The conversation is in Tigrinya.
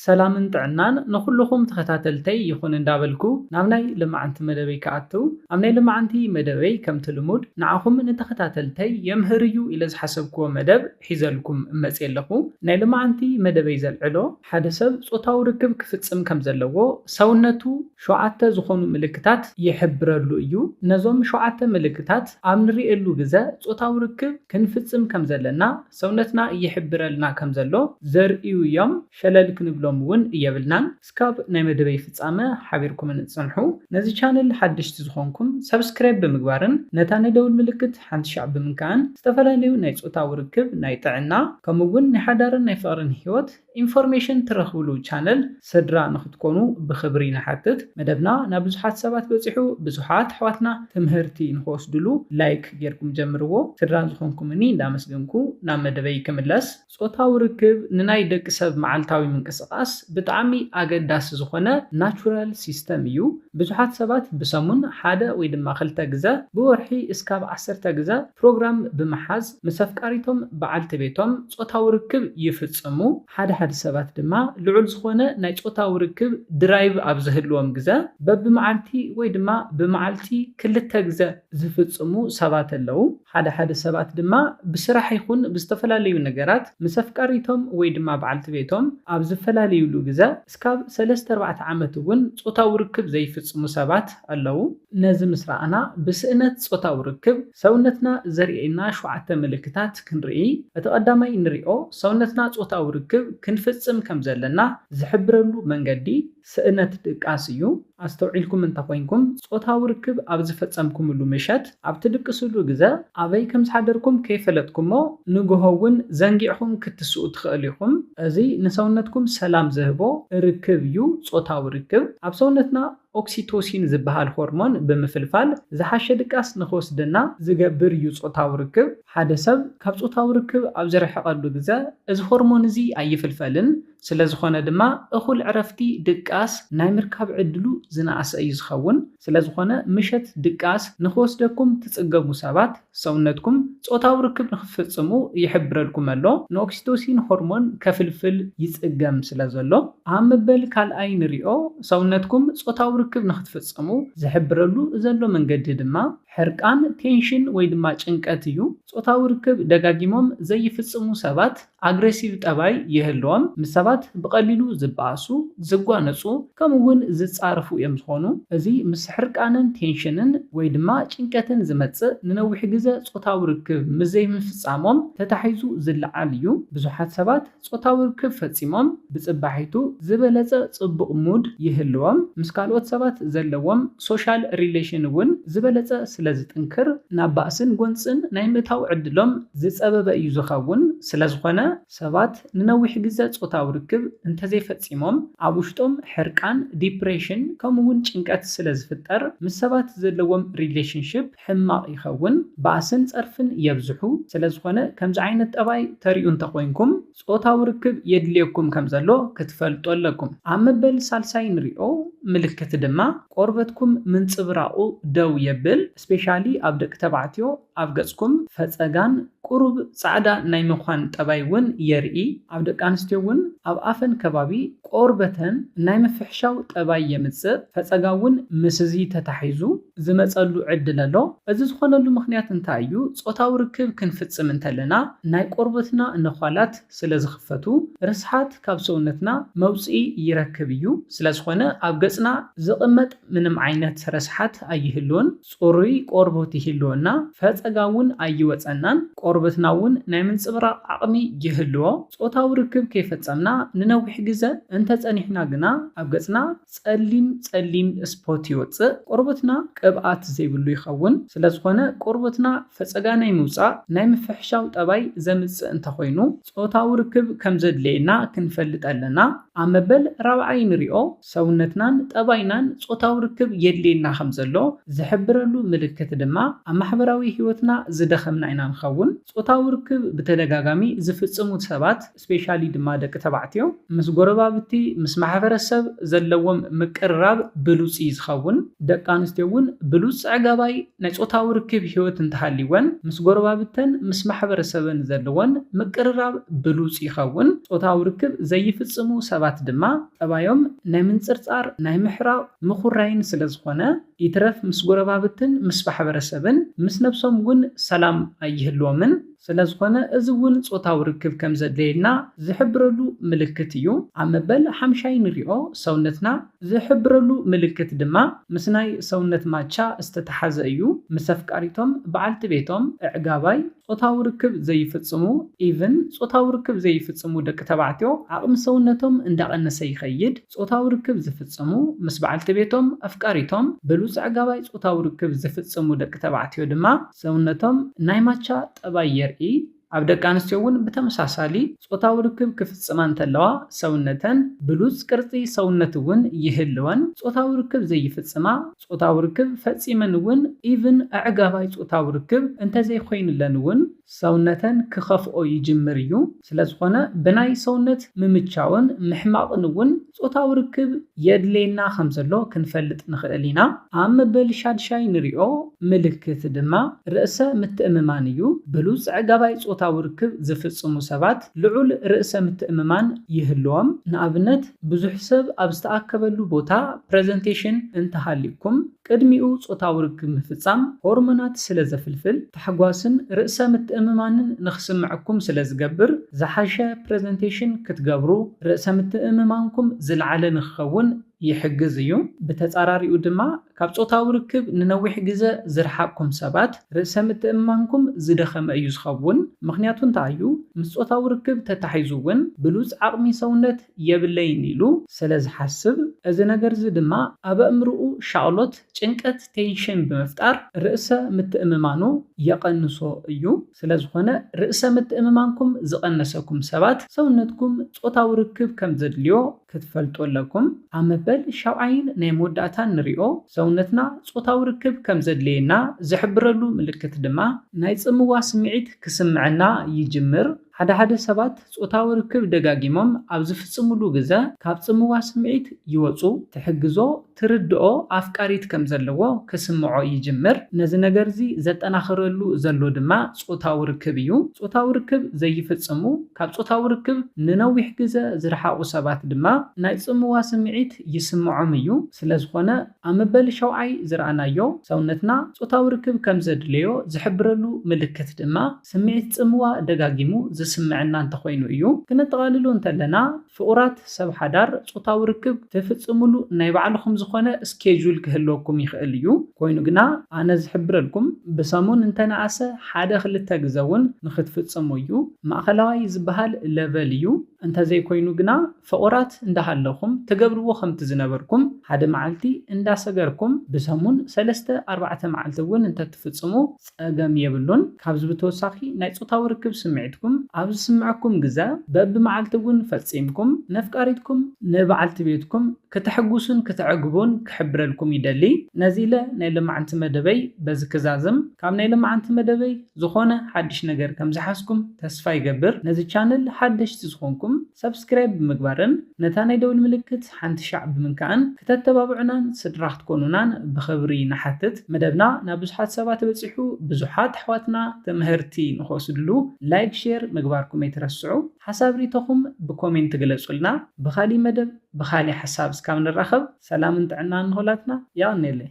ሰላምን ጥዕናን ንኹሉኹም ተኸታተልተይ ይኹን እንዳበልኩ ናብ ናይ ልማዓንቲ መደበይ ክኣትው ኣብ ናይ ልማዓንቲ መደበይ ከምቲ ልሙድ ንዓኹም ንተኸታተልተይ የምህር እዩ ኢለ ዝሓሰብክዎ መደብ ሒዘልኩም እመፅእ ኣለኹ ናይ ልማዓንቲ መደበይ ዘልዕሎ ሓደ ሰብ ፆታዊ ርክብ ክፍፅም ከምዘለዎ ሰውነቱ ሸውዓተ ዝኾኑ ምልክታት ይሕብረሉ እዩ ነዞም ሸውዓተ ምልክታት ኣብ ንሪኤሉ ግዘ ፆታዊ ርክብ ክንፍፅም ከምዘለና ሰውነትና ይሕብረልና ከም ዘሎ ዘርእዩ ዮም ሸለል ክንብሎም ውን የብልናን እስካብ ናይ መደበይ ፍጻመ ሓቢርኩምኒ ጽንሑ ነዚ ቻነል ሓደሽቲ ዝኮንኩም ሳብስክራይብ ብምግባርን ነታ ናይ ደውል ምልክት ሓንቲ ሻዕ ብምንካእን ዝተፈላለዩ ናይ ጾታዊ ርክብ ናይ ጥዕና ከምኡ ውን ናይ ሓዳርን ናይ ፍቅርን ሂወት ኢንፎርሜሽን ትረኽብሉ ቻነል ስድራ ንክትኮኑ ብኽብሪ ንሓትት። መደብና ናብ ብዙሓት ሰባት በጺሑ ብዙሓት ኣሕዋትና ትምህርቲ ንክወስድሉ ላይክ ጌርኩም ጀምርዎ። ስድራ ዝኾንኩምኒ እንዳመስገንኩ ናብ መደበይ ክምለስ። ጾታዊ ርክብ ንናይ ደቂ ሰብ መዓልታዊ ምንቅስቃስ ብጣዕሚ ኣገዳሲ ዝኾነ ናቹራል ሲስተም እዩ። ብዙሓት ሰባት ብሰሙን ሓደ ወይ ድማ ክልተ ግዘ ብወርሒ እስካብ ዓሰርተ ግዘ፣ ፕሮግራም ብምሓዝ ምስ ኣፍቃሪቶም፣ በዓልቲ ቤቶም፣ ጾታዊ ርክብ ይፍጽሙ። ሓደ ሓደ ሰባት ድማ ልዑል ዝኾነ ናይ ጾታዊ ርክብ ድራይቭ ኣብ ዝህልዎም ግዘ በብመዓልቲ ወይ ድማ ብመዓልቲ ክልተ ግዘ ዝፍጽሙ ሰባት ኣለው። ሓደ ሓደ ሰባት ድማ ብስራሕ ይኹን ብዝተፈላለዩ ነገራት ምስ ኣፍቃሪቶም ወይ ድማ በዓልቲ ቤቶም ኣብ ዝፈላለዩሉ ግዘ እስካብ ሰለስተ ኣርባዕተ ዓመት እውን ጾታዊ ርክብ ዘይፍጽሙ ሰባት ኣለው። ነዚ ምስ ረኣና፣ ብስእነት ጾታዊ ርክብ፣ ሰውነትና ዘርእየና ሸውዓተ ምልክታት ክንርኢ። እቲ ቀዳማይ እንርእዮ፣ ሰውነትና ጾታዊ ርክብ ክንፍጽም ከም ዘለና ዝሕብረሉ መንገዲ፣ ስእነት ድቃስ እዩ። ኣስተውዒልኩም እንተ ኾይንኩም፣ ጾታዊ ርክብ ኣብ ዝፈጸምኩምሉ ምሸት፣ ኣብ ትድቅስሉ ግዘ፣ ኣበይ ከም ዝሓደርኩም ከይፈለጥኩሞ፣ ንግሆ እውን ዘንጊዕኹም ክትስኡ ትኸእሉ ኢኹም። እዚ ንሰውነትኩም ሰላም ዝህቦ ርክብ እዩ፣ ጾታዊ ርክብ፣ ኣብ ሰውነትና፣ ኦክሲቶሲን ዝበሃል ሆርሞን ብምፍልፋል ዝሓሸ ድቃስ ንኽወስደና ዝገብር እዩ ጾታዊ ርክብ። ሓደ ሰብ ካብ ጾታዊ ርክብ ኣብ ዝርሕቐሉ ግዘ እዚ ሆርሞን እዚ ኣይፍልፈልን፣ ስለዝኾነ ድማ እኹል ዕረፍቲ፣ ድቃስ፣ ናይ ምርካብ ዕድሉ ዝነኣሰ እዩ ዝኸውን። ስለዝኾነ ምሸት ድቃስ ንኽወስደኩም ትጽገሙ ሰባት፣ ሰውነትኩም ጾታዊ ርክብ ንኽትፍጽሙ ይሕብረልኩም ኣሎ፣ ንኦክሲቶሲን ሆርሞን ከፍልፍል ይጽገም ስለዘሎ። ኣብ መበል ካልኣይ ንሪኦ፣ ሰውነትኩም ጾታዊ ርክብ ንኽትፍጽሙ ዝሕብረሉ ዘሎ መንገዲ ድማ ሕርቃን፣ ቴንሽን፣ ወይ ድማ ጭንቀት እዩ። ጾታዊ ርክብ ደጋጊሞም ዘይፍጽሙ ሰባት። ኣግሬሲቭ ጠባይ ይህልዎም፣ ምስ ሰባት ብቐሊሉ ዝበኣሱ፣ ዝጓነጹ፣ ከምኡ ውን ዝጻረፉ እዮም ዝኾኑ። እዚ ምስ ሕርቃንን ቴንሽንን ወይ ድማ ጭንቀትን ዝመጽእ ንነዊሕ ግዘ ጾታዊ ርክብ ምስ ዘይምፍጻሞም ተታሒዙ ዝለዓል እዩ። ብዙሓት ሰባት ጾታዊ ርክብ ፈጺሞም ብጽባሒቱ ዝበለጸ ጽቡቕ ሙድ ይህልዎም፣ ምስ ካልኦት ሰባት ዘለዎም ሶሻል ሪሌሽን ውን፣ ዝበለጸ ስለ ዝጥንክር ናብ ባእስን ጎንጽን ናይ ምእታው ዕድሎም ዝጸበበ እዩ ዝኸውን። ስለ ዝኾነ ሰባት ንነዊሕ ግዘ ጾታዊ ርክብ እንተዘይፈጺሞም ኣብ ውሽጦም ሕርቃን፣ ዲፕሬሽን ከምኡ እውን ጭንቀት ስለ ዝፍጠር ምስ ሰባት ዘለዎም ሪሌሽንሺፕ ሕማቕ ይኸውን። ባእስን ጸርፍን የብዝሑ። ስለ ዝኾነ ከምዚ ዓይነት ጠባይ ተሪኡ እንተኾይንኩም። ጾታዊ ርክብ የድልየኩም ከም ዘሎ ክትፈልጡ ኣለኩም። ኣብ መበል ሳልሳይ ንሪኦ ምልክት ድማ ቆርበትኩም ምንጽብራቑ ደው የብል፣ ስፔሻሊ ኣብ ደቂ ተባዕትዮ ኣብ ገጽኩም ፈጸጋን ቁሩብ ጻዕዳ ናይ ምዃን ጠባይ ውን የርኢ፣ ኣብ ደቂ ኣንስትዮ ውን ኣብ ኣፈን ከባቢ ቆርበተን ናይ ምፍሕሻው ጠባይ የምጽእ፣ ፈጸጋ ውን ምስዚ ተታሒዙ። ዝመጸሉ ዕድል ኣሎ። እዚ ዝኾነሉ ምኽንያት እንታይ እዩ? ጾታዊ ርክብ ክንፍጽም እንተለና ናይ ቆርበትና ነዃላት ስለ ዝኽፈቱ ርስሓት ካብ ሰውነትና መውጽኢ ይረክብ እዩ። ስለ ዝኾነ ኣብ ገጽና ዝቕመጥ ምንም ዓይነት ረስሓት ኣይህሉን። ጽሩይ ቆርቡት ይህልወና፣ ፈጸጋ እውን ኣይወጸናን፣ ቆርበትና እውን ናይ ምንጽብራቕ ዓቕሚ ይህልዎ። ጾታዊ ርክብ ከይፈጸምና ንነዊሕ ግዘ እንተጸኒሕና ግና ኣብ ገጽና። ጸሊም ጸሊም ስፖት ይወጽእ ቆርበትና ቅብኣት ዘይብሉ ይኸውን ስለዝኾነ ቆርበትና ፈጸጋ ናይ ምውጻእ ናይ ምፍሕሻው ጠባይ ዘምጽእ እንተኾይኑ ጾታዊ ርክብ ከምዘድልየና ክንፈልጥ ኣለና ኣብ መበል ራብዓይ ንሪኦ ሰውነትናን ጠባይናን ጾታዊ ርክብ የድልየና ከምዘሎ ዝሕብረሉ ምልክት ድማ ኣብ ማሕበራዊ ሂወትና ዝደኸምና ኢና ንኸውን ጾታዊ ርክብ ብተደጋጋሚ ዝፍጽሙ ሰባት ስፔሻሊ ድማ ደቂ ተባዕትዮ ምስ ጎረባብቲ ምስ ማሕበረ ሰብ ዘለዎም ምቅርራብ ብሉጽ እዩ ዝኸውን። ደቂ ኣንስትዮ እውን ብሉጽ ጸዕጋባይ ናይ ጾታዊ ርክብ ህይወት እንተሃልይወን ምስ ጎረባብተን ምስ ማሕበረ ሰበን ዘለወን ምቅርራብ ብሉጽ ይኸውን። ጾታዊ ርክብ ዘይፍጽሙ ሰባት ድማ ጠባዮም ናይ ምንጽርጻር ናይ ምሕራቕ ምኹራይን ስለ ዝኾነ ይትረፍ ምስ ጎረባብትን ምስ ማሕበረ ሰብን ምስ ነብሶም እውን ሰላም ኣይህልዎምን። ስለዝኾነ እዚ እውን ጾታዊ ርክብ ከም ዘድለየልና ዝሕብረሉ ምልክት እዩ። ኣብ መበል ሓምሻይ ንሪኦ ሰውነትና ዝሕብረሉ ምልክት ድማ ምስ ናይ ሰውነት ማቻ ዝተተሓዘ እዩ። ምስ ኣፍቃሪቶም፣ በዓልቲ ቤቶም፣ እዕጋባይ፣ ጾታዊ ርክብ ዘይፍጽሙ፣ even፣ ጾታዊ ርክብ ዘይፍጽሙ ደቂ ተባዕትዮ ዓቕሚ ሰውነቶም እንዳቐነሰ ይኸይድ። ጾታዊ ርክብ ዝፍጽሙ ምስ በዓልቲ ቤቶም፣ ኣፍቃሪቶም፣ ብሉጽ ኣዕጋባይ ጾታዊ ርክብ ዝፍጽሙ ደቂ ተባዕትዮ ድማ ሰውነቶም ናይ ማቻ ጠባይ የርኢ። ኣብ ደቂ ኣንስትዮ እውን ብተመሳሳሊ ጾታዊ ርክብ ክፍጽማ እንተለዋ ሰውነተን ብሉጽ ቅርጺ ሰውነት እውን ይህልወን። ጾታዊ ርክብ ዘይፍጽማ ጾታዊ ርክብ ፈጺመን እውን ኢቭን ኣዕጋባይ ጾታዊ ርክብ እንተዘይኮይንለን እውን፣ ሰውነተን ክኸፍኦ ይጅምር እዩ። ስለዝኾነ ብናይ ሰውነት ምምቻውን ምሕማቕን እውን ጾታዊ ርክብ የድልየና ከምዘሎ ክንፈልጥ ንኽእል ኢና። ኣብ መበል ሻድሻይ ንሪኦ ምልክት ድማ ርእሰ ምትእምማን እዩ። ብሉጽ ኣዕጋባይ ጾታዊ ርክብ ዝፍጽሙ ሰባት ልዑል ርእሰ ምትእምማን ይህልዎም። ንኣብነት ብዙሕ ሰብ ኣብ ዝተኣከበሉ ቦታ ፕረዘንቴሽን እንተሃልዩኩም፣ ቅድሚኡ ጾታዊ ርክብ ምፍጻም፣ ሆርሞናት ስለ ዘፍልፍል፣ ታሕጓስን ርእሰ ምትእምማንን ንኽስምዐኩም ስለ ዝገብር፣ ዝሓሸ ፕረዘንቴሽን ክትገብሩ፣ ርእሰ ምትእምማንኩም ዝለዓለ ንኽኸውን ይሕግዝ እዩ። ብተጻራሪኡ ድማ፣ ካብ ጾታዊ ርክብ ንነዊሕ ግዘ ዝረሓቕኩም ሰባት፣ ርእሰ ምትእምማንኩም ዝደኸመ እዩ ዝኸውን። ምኽንያቱ እንታይ እዩ? ምስ ጾታዊ ርክብ ተታሒዙ እውን፣ ብሉጽ ዓቕሚ ሰውነት፣ የብለይን ኢሉ ሰለ ዝሓስብ፣ እዚ ነገርዚ ድማ ኣብ ኣእምርኡ ሻቕሎት፣ ጭንቀት፣ ቴንሽን፣ ብምፍጣር ርእሰ ምትእምማኑ የቐንሶ እዩ። ስለ ዝኾነ ርእሰ ምትእምማንኩም ዝቐነሰኩም ሰባት ሰውነትኩም ጾታዊ ርክብ ከም ዘድልዮ ክትፈልጡ ኣለኩም። ኣብ መበል ሻብዓይን ናይ መወዳእታን ንሪኦ ሰውነትና ጾታዊ ርክብ ከም ዘድልየና ዝሕብረሉ ምልክት ድማ ናይ ጽምዋ ስምዒት ክስምዐና ይጅምር። ሓደ ሓደ ሰባት ጾታዊ ርክብ ደጋጊሞም ኣብ ዝፍጽሙሉ ግዘ ካብ ጽምዋ ስምዒት ይወጹ፣ ትሕግዞ፣ ትርድኦ ኣፍቃሪት ከም ዘለዎ ክስምዖ ይጅምር። ነዚ ነገር'ዚ ዘጠናኽረሉ ዘሎ ድማ ጾታዊ ርክብ እዩ። ጾታዊ ርክብ ዘይፍጽሙ፣ ካብ ጾታዊ ርክብ ንነዊሕ ግዘ ዝረሓቑ ሰባት ድማ ናይ ጽምዋ ስምዒት ይስምዖም እዩ። ስለዝኾነ ኣብ መበል ሻውዓይ ዝረኣናዮ፣ ሰውነትና ጾታዊ ርክብ ከም ዘድልዮ ዝሕብረሉ ምልክት ድማ፣ ስምዒት ጽምዋ ደጋጊሙ ዝስምዐና እንተኾይኑ እዩ። ክነጠቓልሎ እንተለና፣ ፍቑራት ሰብ ሓዳር ጾታዊ ርክብ ትፍጽምሉ ናይ ባዕልኹም ዝኾነ ስኬጁል ክህልወኩም ይኽእል እዩ። ኮይኑ ግና፣ ኣነ ዝሕብረልኩም ብሰሙን እንተነኣሰ ሓደ ክልተ ግዘ እውን ንኽትፍጽሙ እዩ። ማእኸላዋይ ዝበሃል ለቨል እዩ። እንተዘይኮይኑ ግና፣ ፍቑራት እንዳ ሃለኹም ትገብርዎ ከምቲ ዝነበርኩም ሓደ መዓልቲ እንዳ ሰገርኩም ብሰሙን ሰለስተ ኣርባዕተ መዓልቲ እውን እንተ ትፍጽሙ ጸገም የብሉን። ካብዚ ብተወሳኺ ናይ ጾታዊ ርክብ ስምዒትኩም ኣብ ዝስምዐኩም ግዘ በቢ መዓልቲ እውን ፈጺምኩም ነፍቃሪትኩም፣ ንበዓልቲ ቤትኩም፣ ክተሕጉሱን ክተዕግቡን ክሕብረልኩም ይደሊ። ነዚ ኢለ ናይ ሎማዕንቲ መደበይ በዚ ክዛዝም። ካብ ናይ ሎማዕንቲ መደበይ ዝኾነ ሓድሽ ነገር ከም ዝሓዝኩም ተስፋ ይገብር። ነዚ ቻነል ሓደሽቲ ዝኾንኩም። ሳብስክራይብ ብምግባርን ነታ ናይ ደውል ምልክት ሓንቲ ሻዕ ብምንካእን ክተተባብዑናን ስድራ ክትኮኑናን ብኽብሪ ንሓትት መደብና ናብ ብዙሓት ሰባት በጺሑ ብዙሓት ኣሕዋትና ትምህርቲ ንኽወስድሉ ላይክ ሼር ምግባርኩም ኣይትረስዑ ሓሳብ ሪኢቶኹም ብኮሜንት ግለጹልና ብኻሊእ መደብ ብኻሊእ ሓሳብ እስካብ ንራኸብ ሰላምን ጥዕናን ንኹላትና የቐኔለይ።